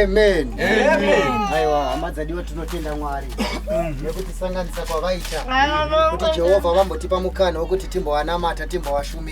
amen aiwa hama dzadiwa tinotenda mwari nekutisanganisa kwavaita kuti jehovha vambotipa mukana wekuti timbowanamata timbowashumira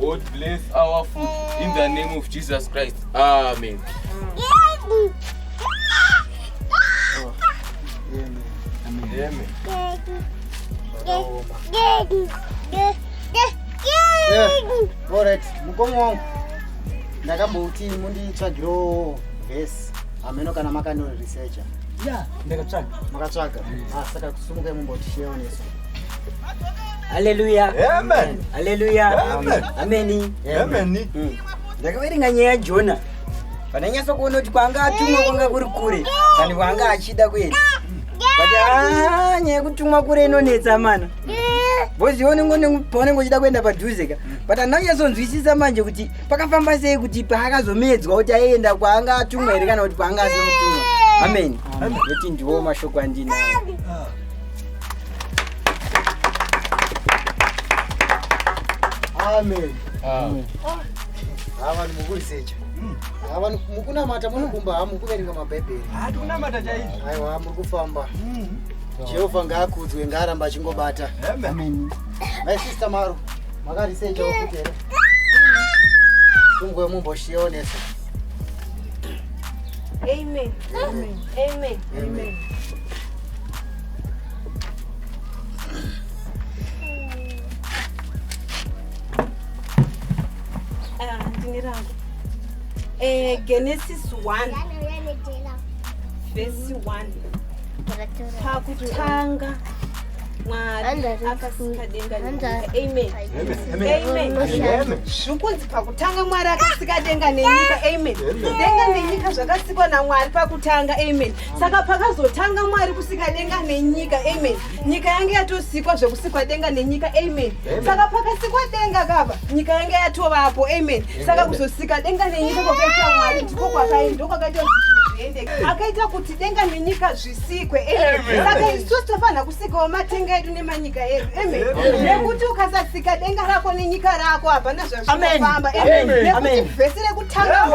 God bless our food in the name of Jesus Christ. Amen. Amen. Alright, mukoma wangu ndakambouti munditsvagiro vhesi hameno kana makano researcher Yeah, ndakatsvaga. makatsvaga Ah, saka kusumukai mumbotisheoneso Haleluya. Amen. Haleluya. Amen. Ameni. Ameni. Mm. Ndakaverenga nyaya yaJona. Pandanyasa kuona kuti kwanga atumwa kwanga kuri kure kandi kwanga achida kuenda. But ah nyaya yekutumwa kure inonetsa mana. Bozi onengo paunenge uchida kuenda padhuze ka. But andanyasonzwisisa manje kuti pakafamba sei kuti paakazomedzwa kuti aienda kwanga atumwa here kana kuti kwanga asina kutumwa. Amen. Amen. Kuti ndiwo mashoko andinawo. amen amen ah. ava ah, ndimukurisecha ava ah, mukunamata munokumba ha mukuverenga mabhaibheri hatikunamata chaizvo aiwa muri kufamba mm. jehovha ngaakudzwe ngaaramba achingobata my sister maro makarisecha ukuti here tumgwe mumboshionesa amen amen amen amen Eh, genesis 1 vhesi 1 pakutanga mwari akasika denga zvikunzi pakutanga mwari akasika denga nenyika amen denga nenyika zvakasikwa namwari pakutanga amen saka pakazotanga mwari kusika denga nenyika amen nyika yange yatosikwa zvekusikwa denga nenyika amen saka pakasikwa denga kapa nyika yange yatovapo amen saka kuzosika denga nenyika kwakaita mwari ndiko kwakaendo kwakaita akaita kuti denga nenyika zvisikwe amen saka isu tofanira sikawo matenga edu nemanyika edu nekuti ukasasika denga rako nenyika rako hapana zvazvinofamba nekuti vhesi rekutanga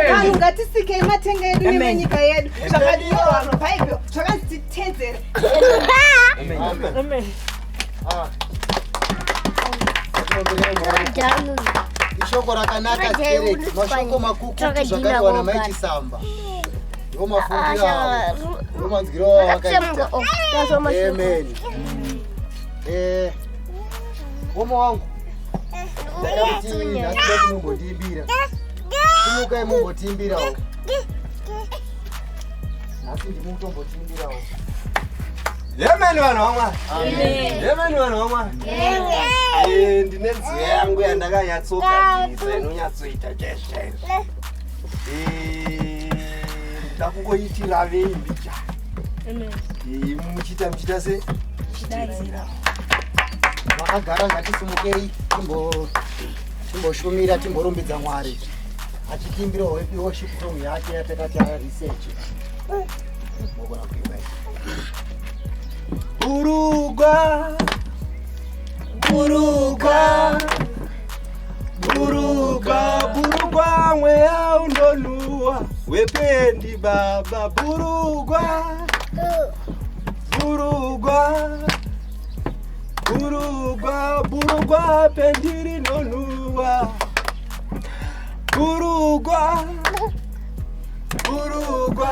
vanhu ngatisikei matenga edu nemanyika yedu zvakadiwa bhaibheri zvakanzi titedzere ishoko rakanaka mashoko makukutu zvakaiwa namai chisamba Womo wangu mumbotiimbira tumukai mumbotiimbirawo nhasi ndimutombotiimbirawo yemeni vanhu vamwari yemeni vanhu vamwari ndine nziyo yangu yandakanyatsogadziza inonyatsoita chezvezvo Eh, ndakungoitira vei mbicha Amen. Eh, muchita muchita se Daidzira. vakagara ngatisimukei timbo- timboshumira timborumbidza mwari achitimbira wepi worship song yake yatakati aya research Eh, mogona kuimba iyi. burugwa burugwa Buruka, burugwa mweya unoluwa wependi baba burugwa burugwa burugwa burugwa pendi rinoluwa burugwa burugwa